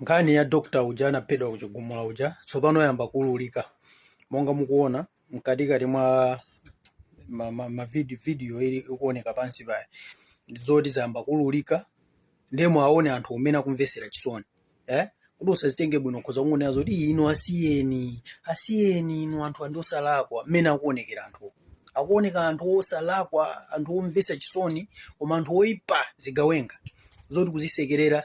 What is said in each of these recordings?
Nkhani ya doctor uja anaphedwa ku Chigumula uja tsopano yayamba kuululika monga mukuona mkatikati mwa ma, ma, ma video, video ili ikuoneka pansipayo zoti zayamba kuululika ndiye muwaone anthu umene akumvesera chisoni eh? kuti usazitenge bwino khoza kungonena zoti "Ii, inu asiyeni asiyeni inu anthu ndi osalakwa mmene akuonekera anthu akuoneka anthu osalakwa anthu omvesa chisoni koma anthu oipa zigawenga zoti kuzisekerera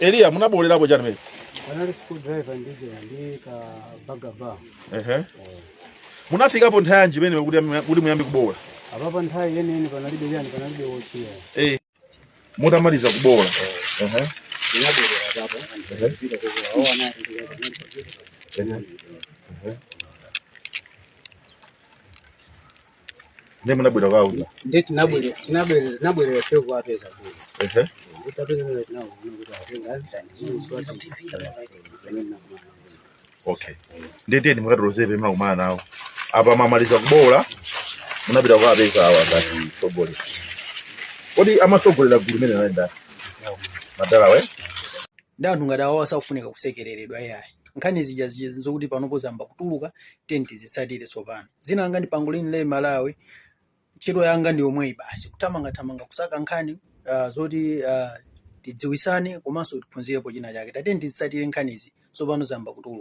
eliya munaboolerapo chani pamene panali screwdriver ndiye ndi ka bagba ehe munafikapo nthawi yanji pamene kuti muya- kuti muyambe kuboola apapa nthawi yeniyeni panalibe chani panalibe wotchiya Eh. mutamaliza kuboola ehe Ndiye munabwera kuwauza. Ndiye tinabwere tinabwere tinabwere ife kuwapeza kuno. Ehe. Titawapeza kuno tinabwera kuti atenga ndani. Okay. Ndiye tiyeni mukatilozere pamene munakumana nawo. Apa mwamaliza kuboola munapita kuwapeza awa ngati mtsogoleri. Kodi amatsogolera gulu limeneli anali ndani? Madala we? ndi anthu ngati awo asakufunika kusekereredwa ayi nkhani zija zija zokuti panopo zayamba kutuluka tiyeni tizitsatire tsopano dzina langa ndi pangolin lay malawi ntchito yanga ndi yomweyi basi kuthamangathamanga kusaka nkhani uh, zoti uh, tidziwisane komanso tiphunzirepo china chake tatiyeni tizitsatire nkhanizi tsopano zayamba kutuluka